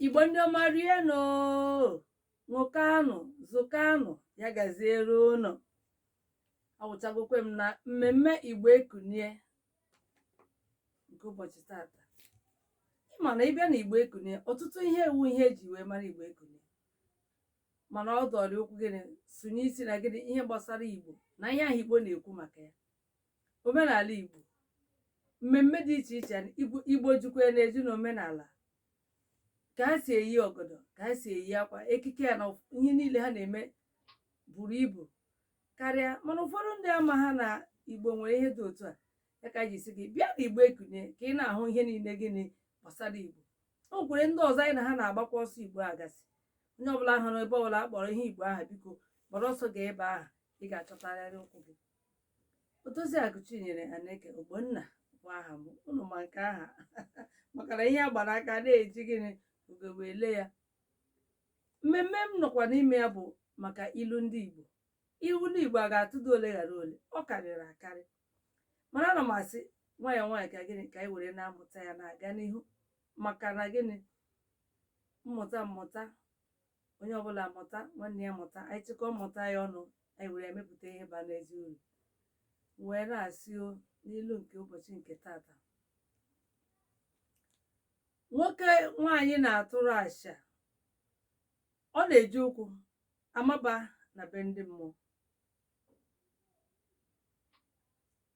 igbo ndị ọma rie nụ ṅụọkwa nụ zụkwa nụ ya gaziere ụnụ awụchagokwe m na mmemme igbo ekunie nke ụbọchị tata ị ma na ị bịa na igbo ekunie ọtụtụ ihe wụ ihe eji wee mara igbo ekunie mana ọ dọrị okwu gịnị sụnye isi na gịnị ihe gbasara igbo na ihe ahụ igbo na-ekwu maka ya omenala Igbo mmemme dị iche iche Igbo jikwa na-eji n'omenala ka ha si eyi ọgọdọ ka ha si eyi akwa ekike ya na ihe niile ha na-eme buru ibu karịa mana ụfọdụ ndị amaha na Igbo nwere ihe dị otu a ya ka e ji sị gị bịa na Igbo ekunie ka ị na-ahụ ihe niile gịnị gbasara Igbo o nwekwere ndị ọzọ anyị na ha na-agbakwa ọsọ Igbo a ga-asị onye ọbụla hụrụ ebe ọbụla a kpọrọ ihe Igbo aha biko gbara ọsọ gaa ebe aha ị ga-achọtarịrị ụkwụ gị Odoziakụ Chinyere Aneke Ogbonna bụ aha m unu ma nke aha maka na ihe a gbara aka na-eji gịnị ugegbe ele ya mmemme m nọkwa n'ime ya bụ maka ilu ndị Igbo ilu ndị Igbo a ga-atụdụ ole ghara ole ọ karịrị akarị mana ana m asị nwayọọ nwayọọ ka gịnị ka anyị were na-amụta ya na-aga n'ihu maka na gịnị mmụta mmụta onye ọbụla mụta nwanne ya mụta anyị chịkọ mmụta ya ọnụ anyị were ya mepụta ihe bara n'ezi uru wee na-asị o n'ilu nke ụbọchị nke tata nwoke nwaanyị na-atụrụ asha ọ na-eji ụkwụ amaba na be ndị mmụọ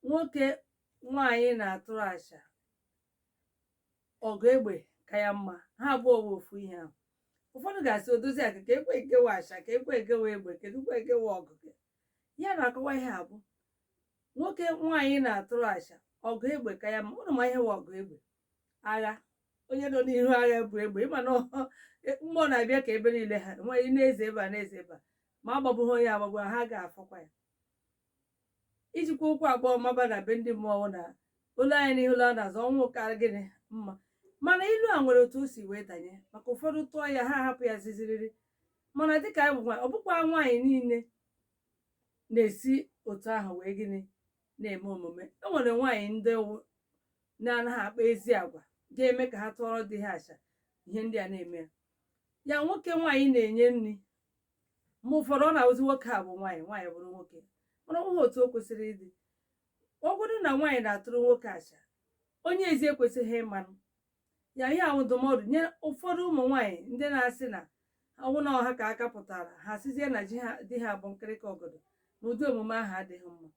nwoke nwaanyị na-atụrụ asha ọgụ egbe ka ya mma ha abụọ bụ ofu ihe ahụ ụfọdụ ga-asị Odoziakụ kee kwe nke wụ asha kee kwe nke wụ egbe kedu kwe nke wụ ọgụ ya na-akọwa ihe a bụ nwoke nwaanyị na-atụrụ asha ọgụ egbe ka ya mma ụnụ ma ihe wụ ọgụ egbe agha onye nọ n'ihu agha bu egbe ị ma na ọ- e- mgbọ na-abịa ka ebe niile ha nwaanyị na-eze ebe a na-eze ebe a ma agbagbughị onye agbagbu ha ga-afọkwa ya ijikwa ụkwụ abụọ maba na be ndị mmụọ na olu anya n'ihu ụlọ a na-azọ ọnwụ ka gịnị mma mana ilu a nwere otu o si wee danye maka ụfọdụ tụọ ya ha ahapụ ya ziziriri mana dịka anyị bụ nwaanyị ọ bụkwa nwaanyị niile na-esi otu ahụ wee gịnị na-eme omume e nwere nwaanyị ndị na-anaghị akpa ezi agwa ga-eme ka ha tụọrọ di ha asha ihe ndị a na-eme ya nwoke nwaanyị na-enye nri mgbe ụfọdụ ọ na-awụzi nwoke a bụ nwaanyị nwaanyị bụrụ nwoke mana ọ bụghị otu o kwesịrị ịdị ọ bụrụ na nwaanyị na-atụrụ nwoke acha onye ezi ekwesịghị ịmanụ ya ihe a wụ ndụmọdụ nye ụfọdụ ụmụ nwaanyị ndị na-asị na ọ wụ na ọ ha ka aka pụtara ha sizie na di ha bụ nkịrịka ọgọdọ na ụdị omume ahụ adịghị mma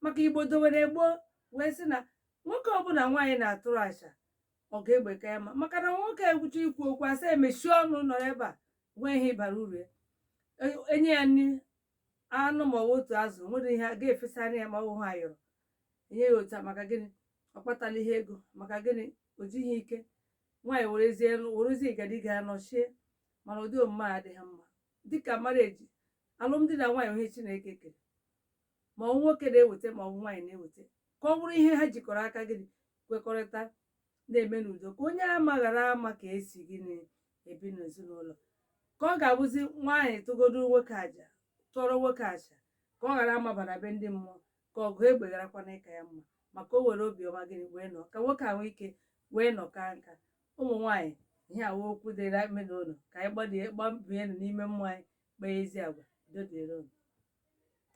maka igbo dowere gboo wee sị na nwoke ọbụla nwaanyị na-atụrụ acha ọgụ egbe ka ya mma maka na nwoke egwucha ikwu okwu a sị ya mechie ọnụ nọ ebe a nwe ihe ị bara uru ya E- enye ya nri anụ ma ọ bụ otu azụ o nwere ihe a ga-efesanụ ya ma ọ bụ ha yọrọ enye ya otu a maka gịnị ọ kpatala ihe ego maka gịnị o jighị ike nwaanyị werezie nụ- werezie igadi ga nọchie mana ụdị omume a adịghị mma dịka mareji alụmdi na nwaanyị ihe chineke kere ma ọ bụ nwoke na-eweta ma ọ bụ nwaanyị na-eweta ka ọ bụrụ ihe ha jikọrọ aka gịnị kwekọrịta na-eme n'udo ka onye ama ghara ama ka esi gịnị ebi n'ezinụlọ ka ọ ga-abụzi nwaanyị tụgodo nwoke aja tụọrọ nwoke acha ka ọ ghara amaba na be ndị mmụọ ka ọgụ egbe gharakwana ịka ya mma maka o were obiọma gịnị wee nọ ka nwoke ahụ ike wee nọ ka nka ụmụ nwaanyị ihe a wụ okwu dịrị ime n'ụlọ ka anyị gbadie gbabie n'ime mmụọ anyị kpaa ezi agwa udo dịrị unu